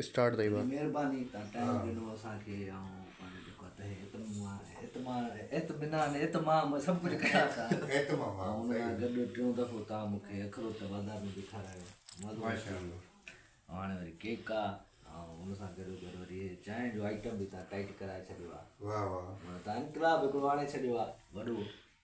Start ٿئي وا. مھرباني تان ٽائيم ڏنو اسان کي آئون پاڻ جيڪو آ تنھنجي اتممان اتمان اطمينان اتمام سڀ ڪجھ ڪريان ٿا ۽ ان سان گڏ ٽيون دفعو تان مون کي اخروٽ بازار ۾ به کارايو مزو اچي ويو ۽ ھاڻي وري ڪيڪ آ ۽ ان سان گڏو گڏ وري ھي چانھه جو آئٽم به تان ٽائيٽ ڪرائي ڇڏيو آ ھاڻي تان انقلاب ھڪڙو آڻي ڇڏيو آ وڏو.